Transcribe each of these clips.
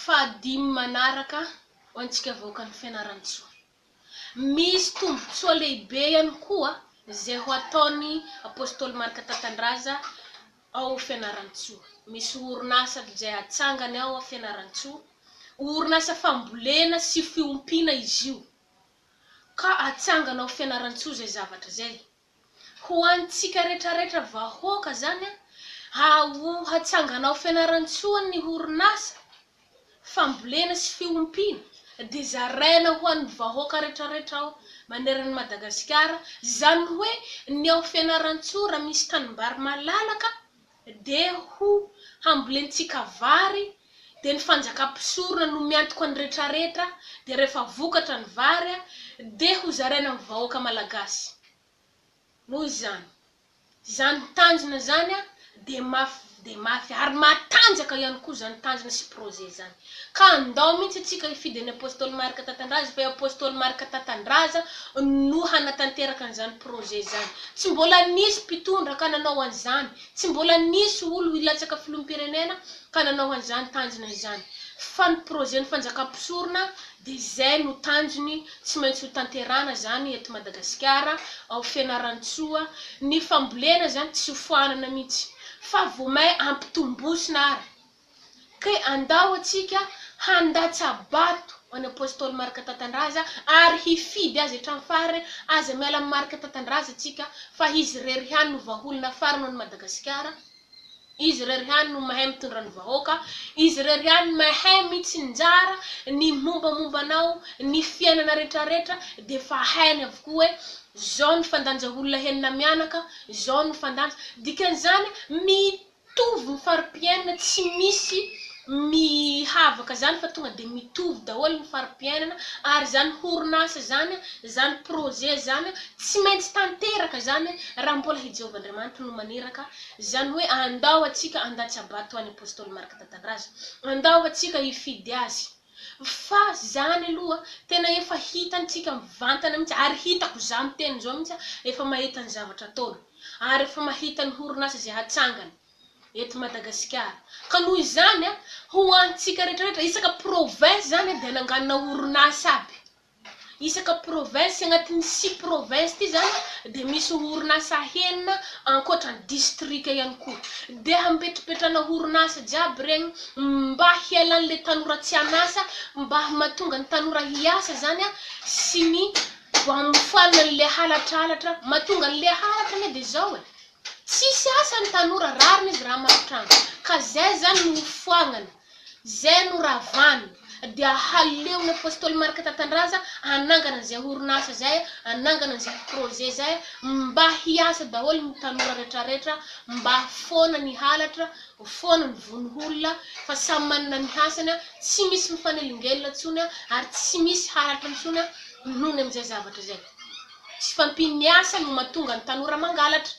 Fahadimy manaraka ho antsika vahoakan'i Fianarantsoa. Misy tombontsoa lehibe ihany koa izay ho ataon'i Apostoly Marc Tatandraza ao Fianarantsoa. Misy orinasa izay hatsangany ao Fianarantsoa. Orinasa fambolena sy fiompiana izy io. Ka hatsangana ao Fianarantsoa izay zavatra izay. ho antsika retraretra vahoaka zany a haho hatsangana ao Fianarantsoa ny horonasa fambolena sy fiompiana de zaraina ho an'ny vahoaka retraretra ao maneran'i Madagasikara zany hoe ny ao Fianarantsoa raha misy tanimbary malalaka dia ho hambolentsika vary, dia ny fanjakam-pisorona no miantoka ny retraretra, dia rehefa vokatra ny vary dia ho zaraina amin'ny vahoaka malagasy. Noho izany, izany tanjona izany dia mafy dia mafy ary matanjaka ihany koa izany tanjona sy projet izany. Ka andao mihitsy isika hifidy an'i Apostoly Marc Tatandraza fa i Apostoly Marc Tatandraza no hanatanteraka an'izany projet izany. Tsy mbola nisy mpitondra ka nanao an'izany, tsy mbola nisy olo hilatsaka filoham-pirenena ka nanao an'izany tanjona izany. Fa ny projet ny fanjakam-pisorona dia izay no tanjony tsy maintsy ho tanterahana izany eto Madagasikara, ao Fianarantsoa. Ny fambolena izany tsy ho foanana mihitsy fa vao may ampitombosina ary. Ka andao antsika handatsa-bato an'i Apostoly Marc Tatandraza ary hifidy azy hatramin'ny farany, aza miala amin'i Marc Tatandraza tsika fa izy irery ihany no vahaolona farany ho an'i Madagasikara, izy irery ihany no mahay mitondra ny vahoaka, izy irery ihany mahay mitsinjara ny mombamomba anao, ny fiainana retraretra dia efa hainy avokoa hoe zao ny fandanja olona henina mianaka, zao ny fandanja, dikan'izany Mitovy ny fari-piainana tsy misy mihavaka izany fa tonga dia mitovy daholo ny fari-piainana ary izany horonasa izany, izany projet izany tsy maintsy tanteraka izany raha mbola i Jehovah Andriamanitra no maniraka izany hoe andao antsika handatsa-bato ho an'i Apostoly Marc Tatandraza. Andao antsika hifidy azy. Fa zany aloha tena efa hitantsika mivantana mihitsy ary hitako izaho miteny izao mihitsy aho efa mahita ny zavatra ataony ary efa mahita ny horonasa izay hatsangany eto Madagasikara ka noho izany ho antsika rehetra rehetra isaka province zany dia nanganona horonasa aby Isaka province, agnatin'ny six province ty zany dia misy orinasa enina ankoatra ny distrika ihany koa. Dia hampetrapetrana orinasa jiaby regny mba hialan'ilay tanora tsy an'asa, mba mahatonga ny tanora hiasa zany a, sy ny hamofoanana an'ilay halatralatra mahatonga an'ilay halatra anie dia zao e, tsisy asa ny tanora, rariny izy raha marin-trano, ka zay zany no hofoagnany. Izay no ravany dia haleon'ny Apostoly Marc Tatandraza hanangana izay orinasa izay, hanangana izay projet izay mba hiasa daholo ny tanora retraretra mba foana ny halatra, foana ny vono olona fa samy manana ny hasany, tsy misy mifanelingelina intsony ary tsy misy halatra intsony noho ny amin'izay zavatra izay. Tsy fahampian'ny asa no mahatonga ny tanora mangalatra.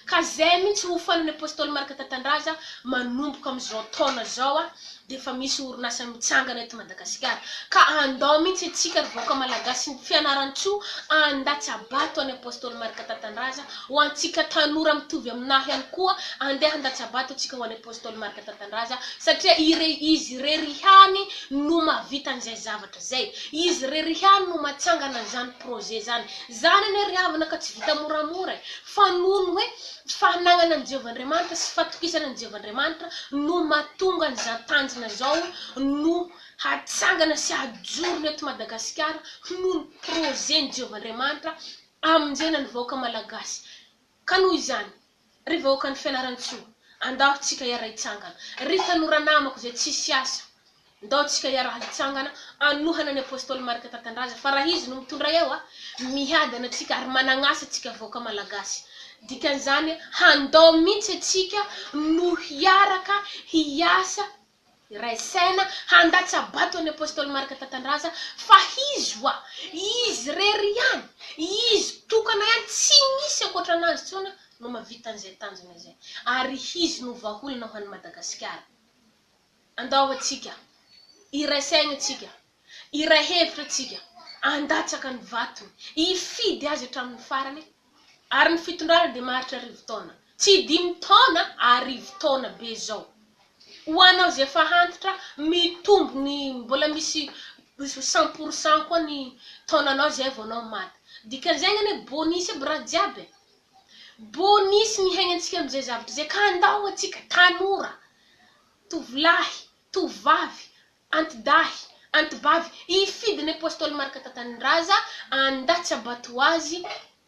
Ka zay mintsy hofanan'ny apostoly Marc Tatandraza manomboka amin'izao taona zao a de efa misy orinasa mitsangana eto Madagasikara ka andao mintsy antsika ry vahoaka Malagasy ny Fianarantsoa andatsabato any apostoly Marc Tatandraza ho antsika tanora mitovy aminah ihany koa andeha handatsabato antsika ho any apostoly Marc Tatandraza satria ire izy irery ihany no mahavita an'izay zavatra Zay. Izy rery ihany no matsangana zany projet zany. Zany anie ry havana ka tsy vita moramora e. Fa noho ny hoe fanagnana an'i Jehovah Andriamanitra sy fatokisana an'i Jehovah Andriamanitra no mahatonga an'izany tanjona zao no hatsangana sy hajorony eto Madagasikara noho ny projet-n'i Jehovah Andriamanitra hamonjena ny vahoaka malagasy. Ka noho izany. Ry vahoakan'i Fianarantsoa, andao tsika hiara-hitsangana. Ry tanora namako izay tsisy asa, ndao tsika hiara-hitsangana hanohana ny Apostoly Marc Tantandraza fa raha izy no mitondra eo a! Miadana tsika ary managn'asa tsika vahoaka Malagasy. Dikan'izany, handao mintsy atsika no hiaraka hiasa Iray saina handatsa-bato an'i Apostoly Marc Tatandraza fa izy wa, izy irery ihany, izy tokana ihany, tsy misy ankoatran'azy intsony no mahavita an'izay tanjona izay. Ary izy no vahaolana ho an'i Madagasikara. Andao atsika, iray saina atsika. Hiray hevitra isika handatsaka ny vatony, hifidy azy hatramin'ny farany, ary ny fitondrana dia maharitra arivo taona, tsy dimy taona, arivo taona be izao. Ho anao izay efa antitra, mitombo ny mbola misy cent pour cent koa ny taonanao izay vao anao maty. Dikan'izay angamba hoe bonus aby raha jiaby e! Bonus ny hiainantsika amin'izay zavatra izay ka andao antsika tanora, tovolahy, tovovavy, Antidahy, Antibavy, hifidy ny Apostoly Marc Tatanindrazah, andà tsy abato azy,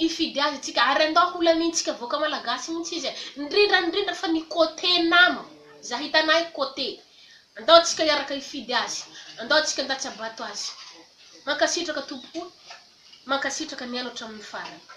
hifidy azy tsika, ary andà holamintsika vahoaka Malagasy mintsy izy, indrindra indrindra fa ny côté nama, za hitanay côté, andao tsika hiaraka hifidy azy, andao tsika andà tsy abato azy. Mankasitraka tompoko, mankasitraka nihaino hatramin'ny farany.